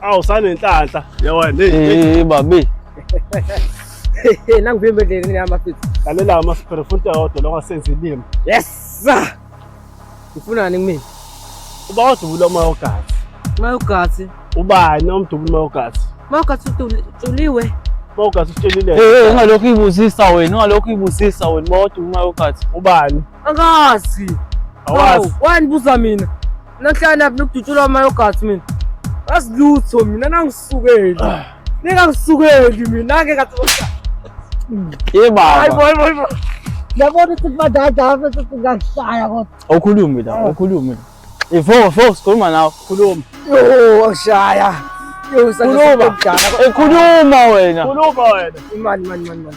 awu sanenhlanhla yawani hey babi nangivimbe endleleni yami afethu lalela ama-sphere futhi awodwa lokho asenza ilimi yes sir Ufunani kumina? Uba odubula umoya ogazi. Umoya ogazi. Ubani omdubula umoya ogazi? Umoya ogazi utuliwe. Umoya ogazi utuliwe. Eh, hey, eh, ungalokhu ibusisa wena, ungalokhu ibusisa wena, uba odubula umoya ogazi. Ubani? Angazi. Awazi. Wani buza mina. Nahlala lapha nokudutshulwa amayogathi mina. Asilutho mina nangisukeli. Ah. Nika ngisukeli mina ke kathi kodwa. Ye baba. Hayi boy boy boy. Yabona ukuthi badada apha sesingashaya kodwa. Awukhulumi la, awukhulumi ah. la. Ifo fo sikhuluma nawe, khuluma. Yo, awushaya. Yo, usaqhubeka. Ekhuluma wena. Khuluma wena. Imali, imali, imali.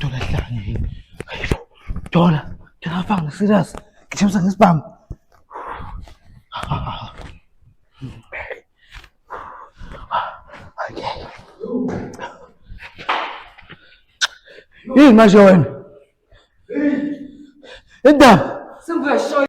Dola hlanya yini? Hayibo. Dola, dola afanga serious. Ngishemisa ngesibhamu. Okay. Yini manje wena? Indaba. Sengizoyishoya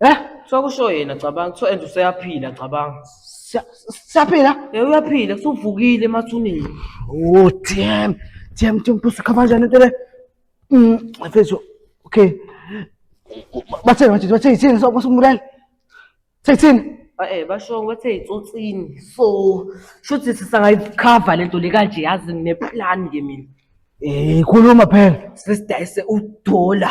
Eh? Kuthiwa kusho yena cabanga, kuthiwa and useyaphila cabanga. Siya- Siyaphila? Eh uyaphila, kusuvukile emathuneni. Oh, damn. Damn, damn, pusu khava kanjani into le? Mm, mfethu. Okay. Bathini manje, bathini yini so kusumbulani? Sekuthini? Ah, Eh basho kwethe itsotsini. So, shuthi sisangayikhava lento le kanje yazi ngine plan ke mina. Eh, khuluma phela. Sisidayise udola.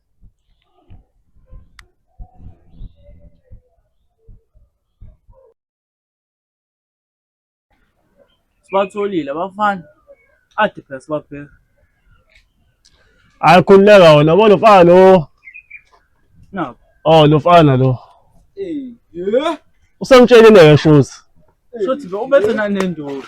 sibatholile abafana ade phela sibabheka hayi khululeka wena bo lomfana lo nabo oh lomfana lo Eh, yeah. usemtshelile ke shuthi Shothi be ubethe nanendoda.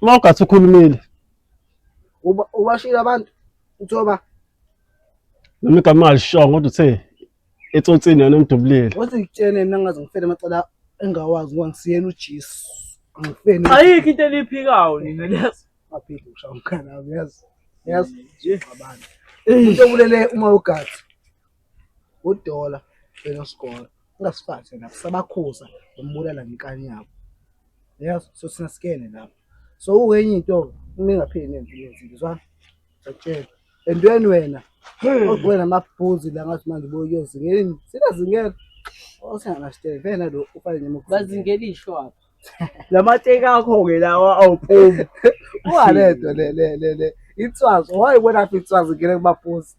uma ugathi ukhulumile uba ubashilo abantu uthoba noma igama alishongo kodwa uthe etsotsini yona umdubulile wathi ngitshene mina ngaze ngifele amacala engawazi ngoba ngisiyena ujesu angifeni ayikho into eliphikayo nina liyazi aphile ushaya umkhana wami yazi yazi abantu into obulele uma ugathi udola benosikolo ungasifaki lapho sabakhuza umbulala ngenkani yabo yazi so sina sikene lapho so ukenye into ningapheli nenze izinto ngizwa ngiyakutshela entweni wena ogwena amabhuzi la ngathi manje boyozingeni sina zingeke osana steve vena lo ufane nemukuthi bazingela isho apha la mateki akho-ke lawa awuphumi walento le le le le itswazi wayibonaphi itswazi ngena kubafuzi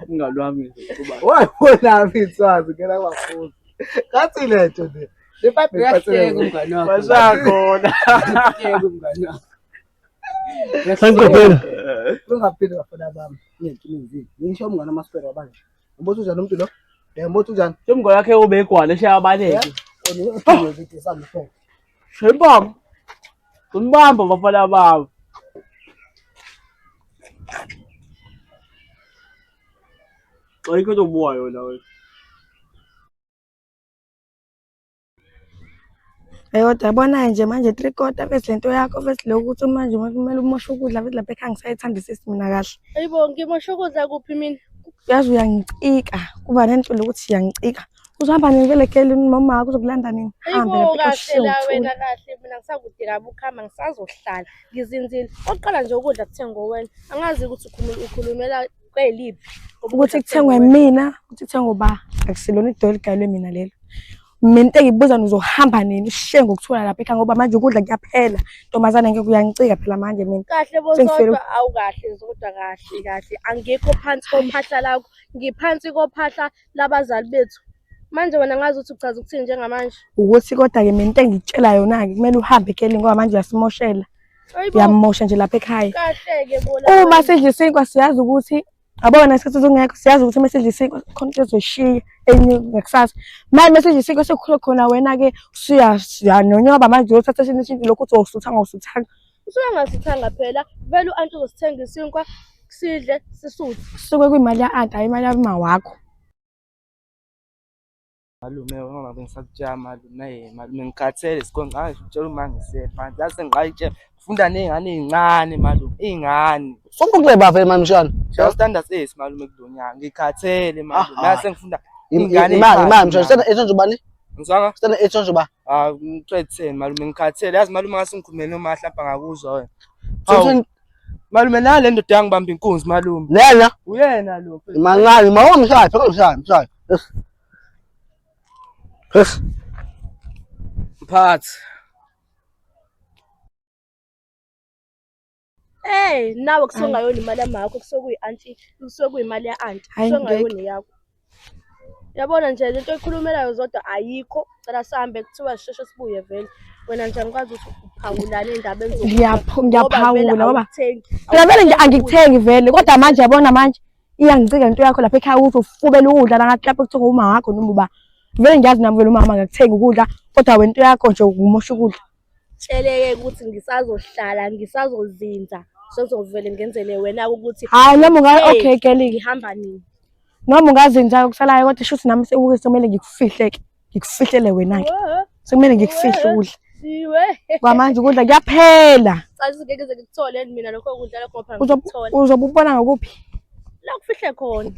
umngani wami nje kuba wayibonaphi itswazi ngena kubafuzi kathi lento nje le pipe Uyahleka iphathele umngani wakho. basakhona Uyahleka umngani wakho. Sangiqophela. ungaphinde bafuna bami ngenkinizini ngisho umngane wamaspera wabanje Umbuzo unjani umuntu lo? Eh umbuzo unjani? Semgo yakhe obegwala eshe abaleke. Shebam. Kunibamba bafana babo. Ayikho into obuwayo la wena. Eyodwa yabona-ke nje manje three quarter bese lento yakho bese lokhu ukuthi manje kumele umoshe ukudla bese lapha ekhaya ngisayithandisisi mina kahle Ayibo ngimosha ukudla kuphi mina? yazi uyangicika kuba nento lokuthi uyangicika uzohamba nini vele kele nomama wakho uzokulanda nini hambe Ayibo lapha kahle la ekhaya wena kahle mina ngisakudinga ukuhamba ngisazohlala ngizinzile. Oqala nje ukudla kuthenga ngowena. Angazi ukuthi ukhulumela kweliphi ukuthi kuthengwe mina ukuthi kuthengwe uba akusilona idola eligayelwe mina lelo mina into engibuza nizohamba nini ushiye ngokuthola lapha ekhaya ngoba manje ukudla kuyaphela ntombazane ngeke uyanicika phela manje mina kahle bozodwa awukahle zodwa kahle kahle angikho phansi kophahla lakho ngiphansi kophahla labazali bethu manje wena ngazi ukuthi uchaza ukuthini njengamanje ukuthi kodwa-ke mina into engikutshela yona-ke kumele uhambe ekelini ngoba manje uyasimoshela uyamosha nje lapha ekhaya uma sidla isinkwa siyazi ukuthi abona isikhathi sokungekho siyazi ukuthi uma sidla isinkwa khona into ezoyishiya enye ngakusasa manje uma sidla isinkwa sekukhule khona wena-ke usuyanonyoba manje uyothatha esinye ishinto lokhu ukuthi wawusuthanga awusuthanga usuke engasithanga phela vele u-anti uzosithenga isinkwa sidle sisuthe kusuke kuyimali ya-anti hhayi imali yabuma wakho malume ngoba bengisakutshela malume malume ngikhathele sikhona ngaye utshela uma ngisephansi yase ngayitshela ngifunda ney'ngane ey'ncane malume iy'ngane ufuna ukuleba vele mani mshana shaya standard sesi malume kulo nyaka ngikhathele malume Ah, nase ngifunda Im- iy'ngane imali imali mshana ey'phansi. Sena- esenzubani Ngizwanga? Sicela etsho nje uba. Ah, ngicetheni malume ngikhathele. Yazi malume ngase ngikhulumele uma hlapha ngakuzwa wena. Hawu. Malume nale ndoda yangibamba inkunzi malume. Lena? Uyena lo. Mancane, mawa mshaye, phela mshaye, mshaye. Yes. Yes. Mphathi. Hey, nawe kusongayona imali yamakho kusokuyi auntie, kusokuyimali ya auntie, Hayi, kusongayona ngeke. yakho. Yabona nje lento oyikhulumelayo zodwa ayikho. Cela sihambe kuthiwa sisheshe sibuye vele. Wena nje angikwazi ukuthi uphawulane endabeni zokufa. Ngiyaphu- Ngoba vele ngiyaphawula ngoba awukuthengi. phela vele nje Awukuthengi angikuthengi vele kodwa manje yabona manje iyangicika into yakho lapha ekhaya ukuthi ufubela ukudla nangathi lapho kuthiwa umama wakho noma uba vele ngiyazi nami vele umama akakuthengi ukudla kodwa wena into yakho nje ukumosha ukudla Tsheleke ukuthi ngisazohlala ngisazozinza sezovele ngenzele wena ukuthi hayi noma unga okay kelike ngihamba nini noma ungazinza kusalayo kodwa shuthi nami sekuke somele ngikufihle ke ngikufihlele wena ke sekumele ngikufihle ukudla siwe kwamanje ukudla kuyaphela cathi ngeke ze ngikuthole mina lokho ukudla lokho phela uzobe ubona ngokuphi la kufihle khona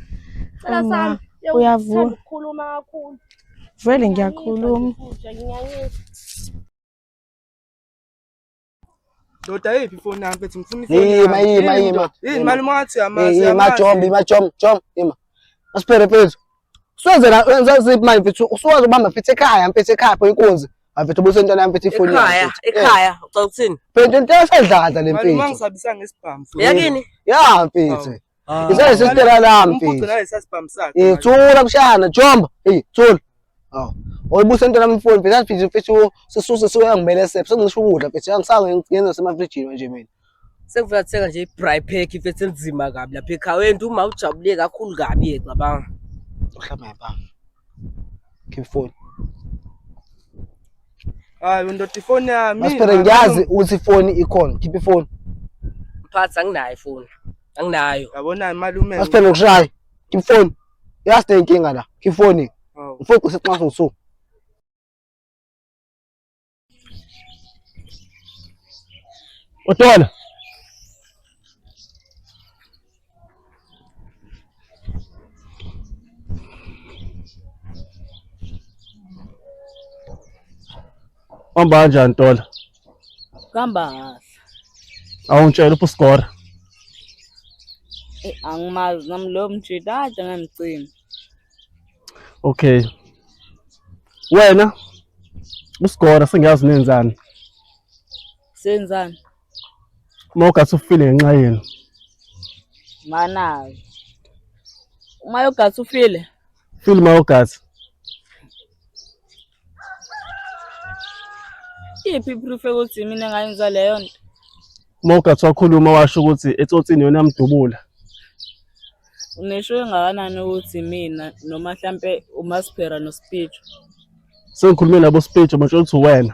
cela sami uyavuka ukukhuluma kakhulu Vele ngiyakhuluma. Ndoda yiphi ifoni yami mfethu ngifuna ifoni. Yima yima yima. Yini mali mwathi yamazi. Yima jom yima jom jom yima. Asiphere mfethu. Siwenze la wenza ziphi manje mfethu usuwazi ubamba mfethu ekhaya mfethu ekhaya pho inkunzi. Mfethu ubusa into nami mfethu ifoni yami. Ekhaya ekhaya ucela ukuthini? Mfethu into esedladla le mfethu. Mali mangisabisa ngesibhamu. Yakini? Ya mfethu. Ah, Isale Ngane, sistera lami Umfuqe mfethu. ngale sasibhamu sakhe. Eh, thula mshana, jomba. Hey, thula. Aw. Oyibuse into nami mfowethu, phela mfethu mfethu sisuse soya ngimele sephe. Sengisho ukudla mfethu, angisange ngenza semafrijini manje mina. Sekuvela kuthenga nje i-braai pack mfethu enzima kabi lapha ekhaya. Wena uma ujabule kakhulu kabi yeke cabanga. Uhlamba yabanga. Keep phone. Hayi undoda ifoni yami. Masphere ngiyazi ukuthi ifoni ikhona. Khipha ifoni. Mphakathi anginayo ifoni. Anginayo. Yabona malume. Masphere ukushaye. Khipha ifoni. Yaste inkinga la. Khipha ifoni. Ufuna oh. useqhaso usuku. Utona. Hamba kanjani Ntola? Kuhamba kahle. Awungitshela uphi uSigora? Eh, Angimazi nami loyo mjita kade ngamcima. Okay. Wena uSigora sengiyazi nenzani. Senzani? uma ugasi ufile ngenxa yenu manayo uma yogasi ufile file uma ugasi iphi iproof yokuthi mina ngayenza leyo nto uma ugasi wakhuluma washo ukuthi etsotsini yona yamdubula unesho engakanani ukuthi mina noma mhlampe umasphera nospicho sengikhulume nabo spicho batshela ukuthi wena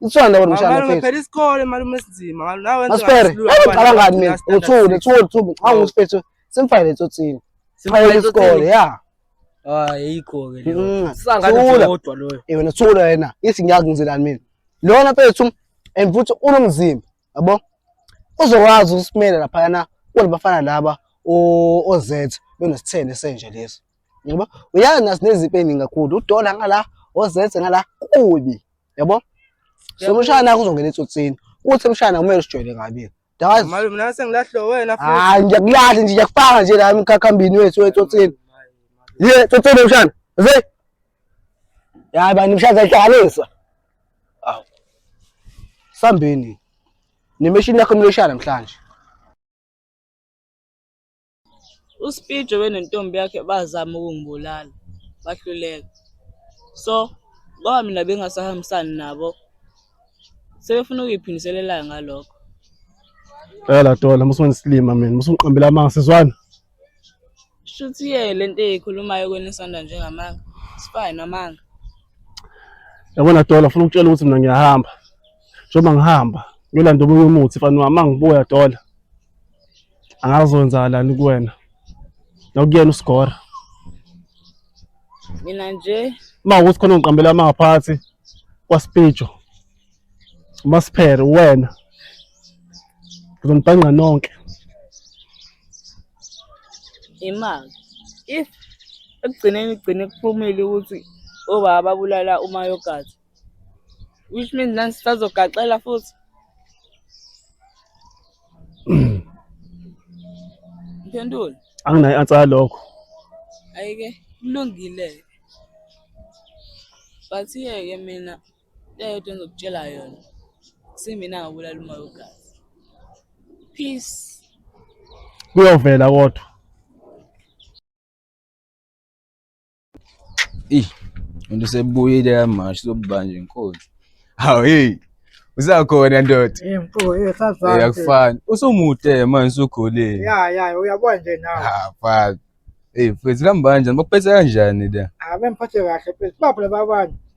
Itswana nawe mshana. Malume phela isikole malume sinzima. Malume nawe wenza. Aspere. Ngicabanga ngani mina? Uthule, thule, thule. Cha ngisiphethe simfayile etsotsini. Simfayile isikole, yeah. Hayi yikho ke leyo. Mm. Sangathi kodwa loyo. Eh wena thula yena. Ithi ngiyazi ngizelani mina. Lona mfethu and futhi unomzimba, yabo? Uzokwazi ukusimela lapha yana kunabafana laba oZ benesithende senje lesi. Ngoba uyazi nasineziphi eningi kakhulu. Udola ngala, oZ ngala kubi. yabo sokushaya naye kuzongena etsotsini kuthi emshaya naye kumele usijwayele kabi Yazi. Mali mina sengilahle wena futhi. Hayi ngiyakulahle nje ngiyakufaka nje la emkhakhambini wethu wetsotsini. Ye tsotsini mshana. Ze. Yayi bani mshana zayihlanganisa. Aw. Sambeni. Nemeshini yakho mleshana namhlanje. uSpijo benentombi yakhe bazama ukungibulala bahluleka so ngoba mina bengasahambisani nabo sebefuna ukuyiphindiselela ngalokho phela dola musuwengisilima mina musungiqambela amanga sizwana shuthi ye le nto eyikhulumayo kweni isonda njengamanga sifaye namanga yabona dola funa ukutshela ukuthi mina ngiyahamba njengoba ngihamba ngiyolanda omunye umuthi fani wami angibuya dola angazowenzakalani kuwena nokuyena usigora mina nje uma ukuthi khona ngiqambela amangaphathi kwasipijo umasiphere uwena ngizonibhanqa nonke imali if ekugcineni kugcine kuphumile ukuthi obaba babulala umayogathi which means nani sisazogaxela futhi mphendule anginayo i-answer yalokho ayike kulungile but yeke mina leyodwa engizokutshela yona simina ngabulala umoya ogazi peace kuyovela kodwa Ih, umuntu usebuyile yamanje sobuba nje inkosi. Hawu hey. Usakhona ndoda. Eh mfo, eh sazana. Uyakufana. Usumude manje usukhulile. Ya ya, uyabona nje nawe. Ha, fuck. Hey, mfethu kambanje, bakuphethe kanjani la? Ah, bemphathe kahle mfethu. Baphi laba bantu?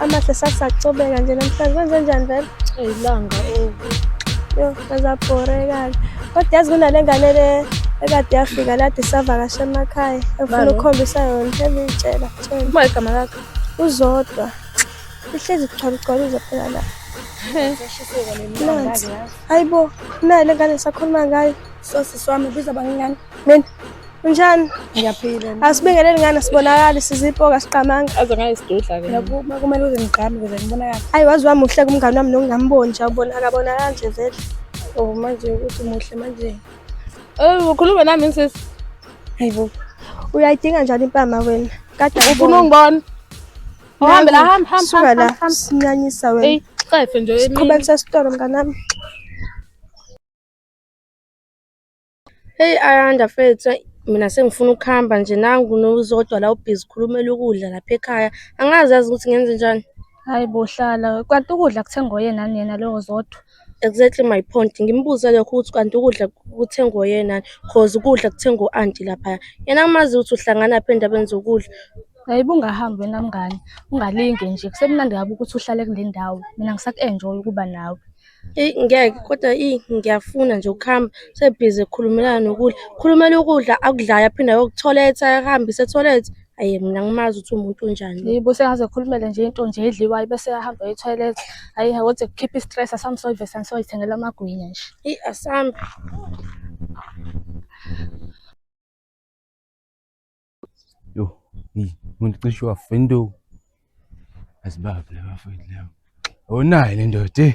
Amahle sasacobeka nje namhlanje kwenze njani vele? Ilanga oh. Yo, ngazabhoreka-ke. Kodwa yazi kunale ngane le ekade yafika lade savakasha emakhaya efuna Balo. ukukhombisa yona engiyitshela tshela Uma igama lakho. uzodwa ihlezi kuchwaluchwalu uzophela la nansi hayi bo nayi le ngane sakhuluma ngayo Sosi swami biza bangingane. Mina unjani? Ngiyaphila. Asibingeleli ngani sibonakali sizipoka siqamanga. Aze ngayisidudla ke. Yakuma kumele uze ngigqame ukuze ngibonakale. Ayi wazi wami uhle kumngane wami nongamboni nje ubona akabona kanje vele. Oh manje ukuthi muhle manje. Eh ukhuluma nami sisi. Hayibo. Uyayidinga njani impama wena? Kade ufuna ungibona. Uhambe la hamba hamba. Suka la sinyanyisa wena. Ey, xefe nje emini. Siqhubekisa isitolo mnganami. Hey Ayanda fethu mina sengifuna ukuhamba nje nangu nozodwa la ubhizi khulumela ukudla lapha ekhaya angazi yazi ukuthi ngenze njani Hayi bo hlala. Kanti ukudla kuthengwa oyena nani yena lowo Zodwa? exactly my point ngimbuze lokho ukuthi kanti ukudla kuthengwa oyena cause ukudla kuthengwa u-anti laphaya yena angimazi ukuthi uhlangana phi endabeni zokudla Hayi bungahambi wena mngani. Ungalinge nje. Kusemnandi kabi ukuthi uhlale kule ndawo. Mina ngisaku-enjoy ukuba nawe. Eyi ngeke kodwa iyi ngiyafuna nje ukuhamba sebhizi ekhulumelana nokudla khulumela ukudla akudlayo aphinde ayokutholetha ahambise etholethe ayi mina ngimazi ukuthi umuntu unjani yibo sengaze ekhulumele nje into nje edliwayo bese ahamba ethoyilethi ayi kodwa kukhipha i-stress asamsoyive sansoyithengela amagwinya nje eyi asambe Yo, hey, umuntu cishe wafa indawo. Asibaphi laba mfowethu laba. Onayo le ndoda. eh.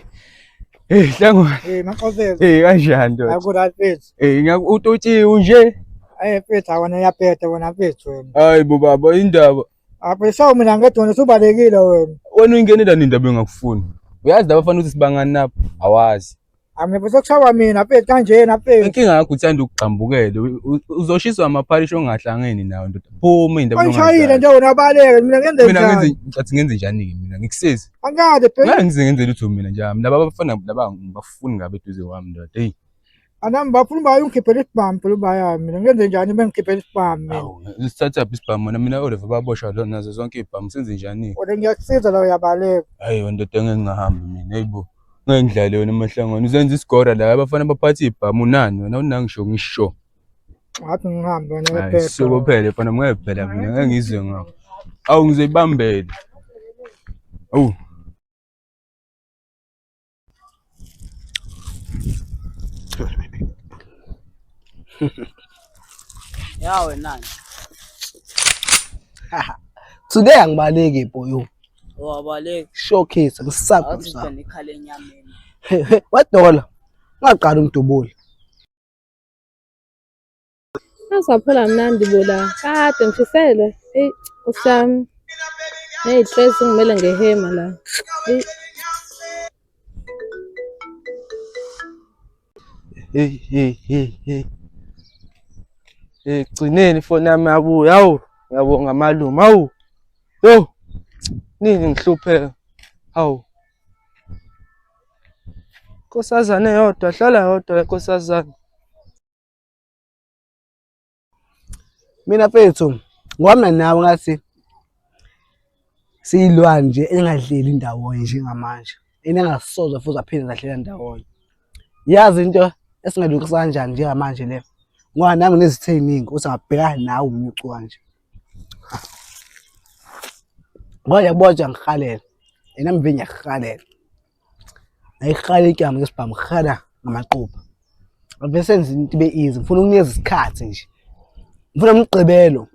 Hey, hlangwa. Eh maxofeza. Hey, kanjani ndoda? Akura phethu. Hey, ngakutotshi unje. Eh phethu awona yaphetha wona phethu wena. Hayi bo baba indaba. Apho sawu mina ngethi wena usubalekile wena. Wena uyingenela nini indaba engakufuni? Uyazi laba fanele ukuthi sibangani nabo? Awazi. Angiphethe kushawa mina mfethu kanjena mfethu. Inkinga yakho uthanda ukugxambukela. U- u- Uzoshiswa amaphalishi ongahlangene nawo ndoda. Phuma indaba Angishayile nje wena baleke mina ngenze Mina njani? ngenze ngathi ngenze njani ke mina ngikusezi. Angikade phela Ngeke ngize ngenze lutho mina nje. Mina laba bafana laba ngibafuni ngabe eduze wami ndoda. Hey. anami bafuna uba ungikhiphele isibhamu phela uba yami mina ngenze njani uma ngikhiphele isibhamu mina. Awu, sithatha phi isibhamu mina mina oliver babosha lo nazo zonke ibhamu senze njani Kodwa ngiyakusiza la uyabaleka. hayi ndoda engeke ngahamba mina hayibo Ngayidlali yona amahlangano uzenza isigora la abafana baphatha ibhamu nani wena unangisho ngisho. Ngathi ngihambe wena Hayi wephepha. suko phela mfana ngeke phela mina ngeke ngizwe ngakho. Awu ngizoyibambela. Awu. Yawe nani? Today angibaleki boyo. Wabaleka. Showcase ngisaba. Awuzizwa nekhala enyameni. Wadola. Ungaqala umdubule. Asaphela mnandi bola. Kade ngifisele. Ey, usami. Hey, stress ngimele ngehema la. Ey. Hey hey hey hey. Egcineni ifoni yami yabuya. Hawu, ngiyabonga malume. Hawu. Yo. Nini ngihlupheka. Hawu. Nkosazane yodwa, hlala yodwa le nkosazane. mina mfethu ngohambe nawe ngathi siyilwane nje engadleli ndawonye njengamanje enengasoze futhi aphinde zadlela ndawonye yazi into esingalungisa kanjani njengamanje le ngoba nami nginezithe ey'ningi ukuthi angabhekana nawe umnyucu kanje ngoba yakubona nje angihalela yena mve ngiyakuhalela ayiqala ityama ke sibhamu rhada ngamaqupha avese enza into ibe easy ngifuna ukunikeza isikhathi nje ngifuna umgqibelo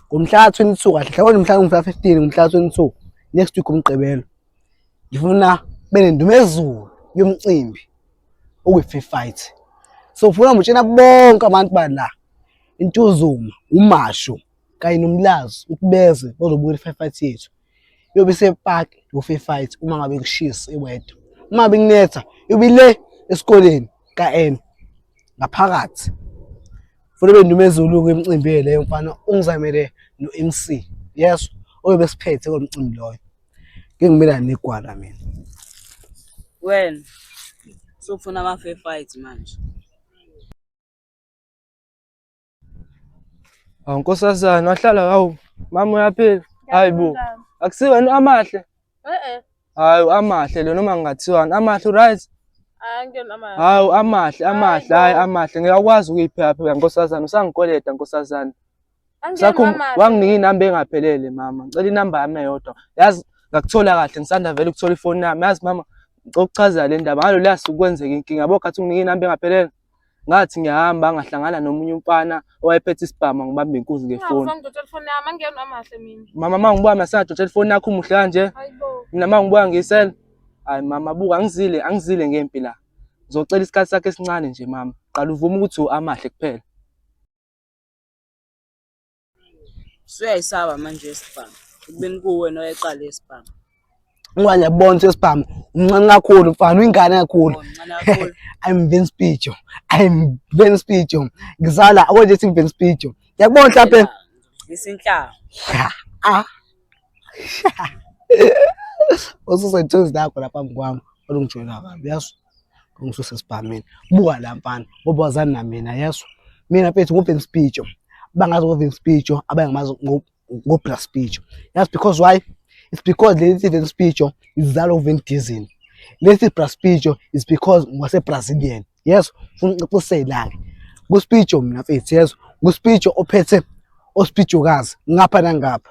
ngomhla ka-22 kahle hlawona mhla ngomhla 15 ngomhla ka-22 next week umgqibelo ngifuna benendumezulu yomcimbi okwi-free fight so ngifuna ngitshena bonke abantu bala intuzuma umasho kanye nomlazi ukuthi beze bazobuka i-free fight yethu iyobe isepark yofe fight uma ngabe kushisa iweather uma ngabe kunetha iyobe le esikoleni ka-n ngaphakathi futhi bendumezulu-ke emcimbini leyo mfana ungizamele no-mc yes oyobe esiphethe kulo mcimbi loyo ngingimela negwala mina wena sokufuna ama-fair fight manje Awu nkosazana wahlala hawu mama uyaphila. Hayi bo. Akusiwena amahle. Eh eh. Hayi amahle lo noma ngingathiwani amahle right? Hawu amahle amahle hayi amahle ngiyakwazi ukuyiphepha nkosazana usangikoleta nkosazana. Sakho wanginika inamba engaphelele mama ngicela inamba yami eyodwa. Yazi ngakuthola kahle ngisanda vele ukuthola ifoni yami yazi mama ngicela ukuchaza le ndaba ngalo lasuku kwenzeka inkinga yabo khathi unginika inamba engaphelele. Ngathi ngiyahamba ngahlangana nomunye umfana owayephethe isibhamu angibambe inkunzi ngefoni. Mama mangibuka masadotshela ifoni yakho umuhle kanje. Mina mangibuka ngisel. Hayi mama buka angizile angizile ngempi la. Ngizocela isikhathi sakhe esincane nje mama. Qala uvume ukuthi amahle kuphela. Usuyayisaba manje isibhamu. Ekubeni kuwe noyeqala isibhamu. Ngoba ngiyabona ukuthi isibhamu umncane kakhulu mfana uyingane kakhulu. I'm Vince Picho. I'm Vince Picho. Ngizala akonje sithi Vince Picho. Ngiyakubona mhlawumbe. Isinhlanga. Ah. Ususethuzi nakho lapha mkwami olungijwayela kabi yazi. ungisuse esibhameni buka la mfana ngoba wazani na mina yeso mina mfethu ngopen speech bangazi ngopen speech abangamazi ngo plus speech yes because why it's because lesi ven speech izalo ven diesel lesi plus speech is because ngwase brazilian yes ufuna uqiqisela ke ku speech mina mfethu yes ku speech ophethe ospijokazi ngapha nangapha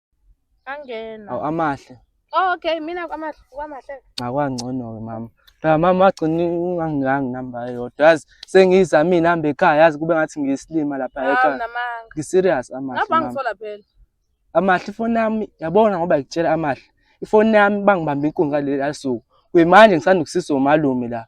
Angena. Awu amahle. Oh, okay, mina kwamahle kwamahle. Akwangcono-ke mama. Cha mama wagcina ungangilangi namba eyodwa. Yazi sengiyizamile nihamba ekhaya yazi kube ngathi ngiyisilima lapha Hawu ekhaya. namanga. Ngi-serious amahle Lapha mama. ngisola phela. Amahle ifoni yami yabona ngoba ngikutshela amahle. Ifoni yami bangibamba inkunzi ngaleli asuku. Kuyimanje ngisanda ukusizwa umalume la.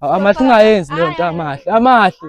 Amahle ungayenzi leyo nto amahle. Amahle.